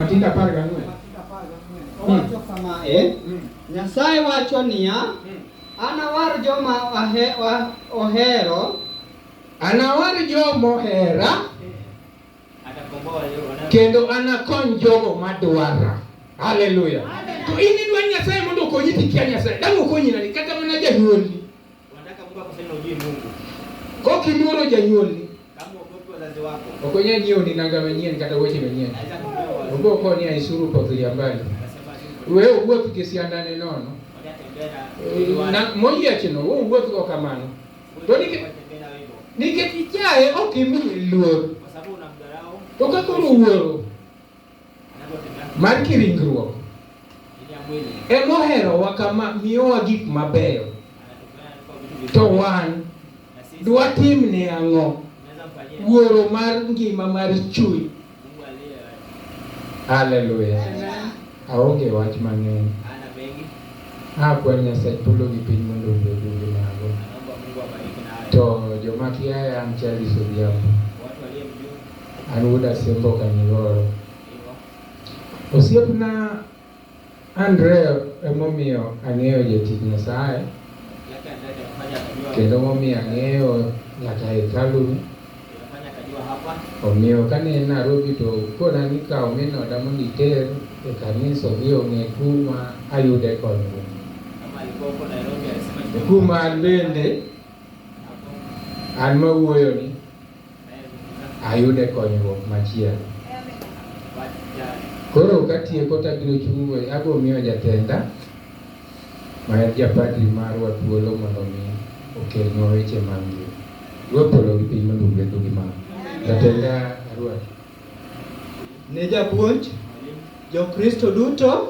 Matinde apar gang'wen. Owacho kama e, Nyasaye wacho niya, anawar joma ahe- wa- ohero Anawar jomo hera Atakomboa walio wanao- kendo anakony jogo madwara. Haleluya. To in idwa Nyasaye mondo okonyi tikia Nyasaye. Dang' okonyi nani kata mana janyuolni. Unataka Mungu akuseme ujui Mungu. Kwa kiluoro janyuolni. Kama uogopi wazazi wako. Okonya nyiewo ni nanga manyien kata weche manyien. Onge okonya e isuru pothiria mbali. Wewe uwuoth gi siandane nono. Na moyiechno wewe uwuoth go kamano. To nikech ichaye ok imiye luor. Kwa sababu unamdharau. To kaka uwuoro mar kiringruok emoherowa kama miyowa gik mabeyo to wan dwatim ne ang'o wuoro mar ngima mar chuny haleluya aonge wach mang'eny akwa nyasaye polo gi piny mondo obedu gi mago to joma kiaya an chaliso dhiambo An wuod Asembo Kanyigoro. Osiepna Andrea emomiyo ang'eyo jatich Nyasaye kendo momiyo ang'eyo nyaka hekaluni. Omiyo kane en Nairobi to kona ni kaw min oda mondo iter e kanisa odhi ong'e kuma ayude konyruok. Kuma an bende an mawuoyoni ayude konyruok machielo. Koro katieko to abiro chung' go abiro miyo jatenda ma en japadri marwa thuolo mondo mi okelnwa weche mag ngima. Ruoth polo gi piny mondo ogwedhu gi mano. Jatenda Ruoth. Ne japuonj Jokristo duto.